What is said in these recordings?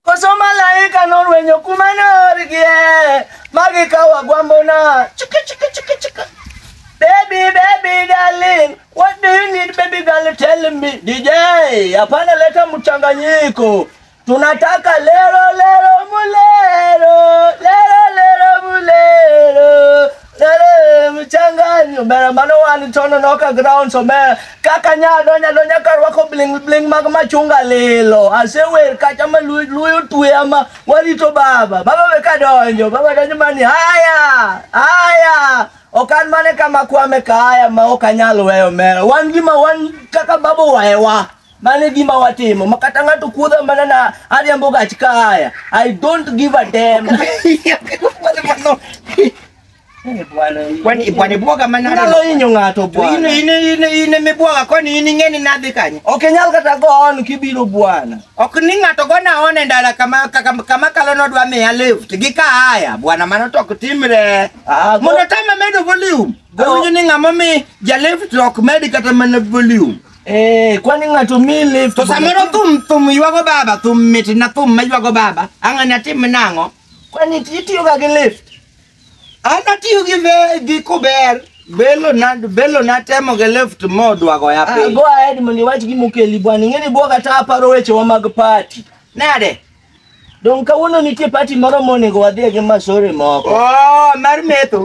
Koso malaika norwenyo kuma norgie magikawo agwambona. Chiki chiki chiki chiki. Baby, baby, darling, what do you need, baby girl? Tell me. DJ, hapana leta mchanganyiko. Tunataka lero lero mulero, lero lero mulero. Nyale mchanganyo ber mano wan tono noka ground so ber kaka nya donya donya ka rwako bling bling mag machunga lilo ase wer kacha ma lu- luyo tuya ma warito baba baba we ka donjo baba donjo mani haya haya okan mane kama kwame kaya ma ok anyal weyo mera wan gima wan kaka baba waewa Mano e gima watimo. Ma kata ng'ato kuodha mana na ariambo gach kaya. I don't give a damn. Eh, bwana, Kwani bwana bwoga manalo. Nyalo hinyo ng'ato bwana. Ine ine ine ine mibwoga kwani in ing'eni nadhi kanye? Ok inyal kata go on kibiro bwana. Ok ni ng'ato gona one ndala kama kaka kama kalo nodwa miya lift gi kaya bwana mano to ok timre. Ah, go- Mondo tama medo volume. Go- Awinjo ni ng'ama mi ja lift ok med kata mana volume. Eh, kwani ng'ato mi lift? To samoro thum thum ywago baba, thum mit na thum ma ywago baba. Ang'ani atim nang'o? Kwani itiyoga gi lift? An atiyo gi ve- gi kuber. Belo na belo na temo gi lift modwago ya Ah, piny. go ahead mondo iwach gima okeli bwana. Ing'eni bwoga ta aparo wechewa mag party. Nade? Dong kawuono nitie pati moro monego wadhie gi masore moko. Oh, mar metho.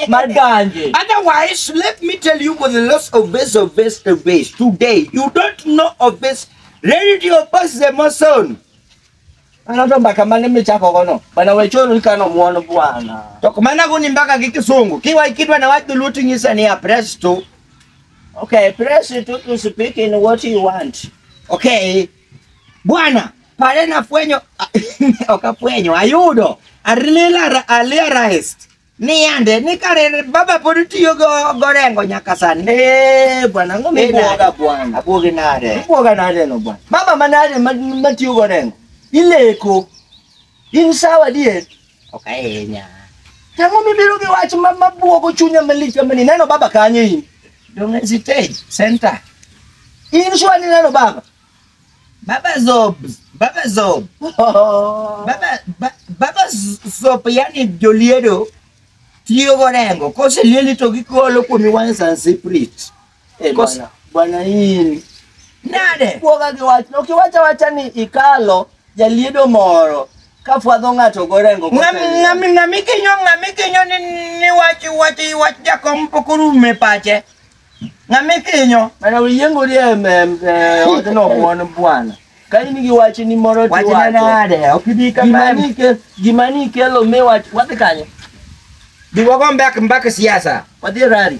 mar ganje. Otherwise, let me tell you with the loss of this of this of this today, you don't know of this reality of us the mason. Anato mbaka mane michako gono. Bana wechoro ikano muono bwana. To kumana guni mbaka gi kisungu. Kiwa ikidwa na watu lutu nyisa ni apresto. Okay, press it to speak in what you want. Okay. Bwana, pale nafwenyo ok afwenyo, ayudo alila aliarized ni yande ni kare baba pod tiyo go gorengo nyaka sani. Eh, bwana ng'o Ni mibwoga nade? bwana. Abwogi nade? Ibwoga nade no bwana? Baba manade ma- matiyo gorengo? Ileko. In sawa dier? Ok ahinya. Tang'o mibiro gi wach ma mabwogo chunya malich kama ni neno baba kanye in. Dong' e stage center. In sure ni neno baba. Baba Zob, Baba Zob, Baba ba, Baba Z- Zob yani joliedo tiyo gorengo koselieli to gikolo kuomi wine and spirit. Eh, Kosa. bwana, bwana hii Nade? kuoga gi wach no kiwacha wacha ni ikalo jaliedo moro ka fwadho ng'ato gorengo Ng'ami ng'ami ng'ami kinyo ng'ami kinyo ni ni wach wach wach jakom pok orume pache. Ng'ami kinyo. mana uyiengori e em- em- e odno mon bwana ka in gi wach ni moro Wach na nade? Ok ibi gima kama. ni ke- gima ni kelo mi wach wadhi kanye Biwago mbak mbak siasa. wadhi e rari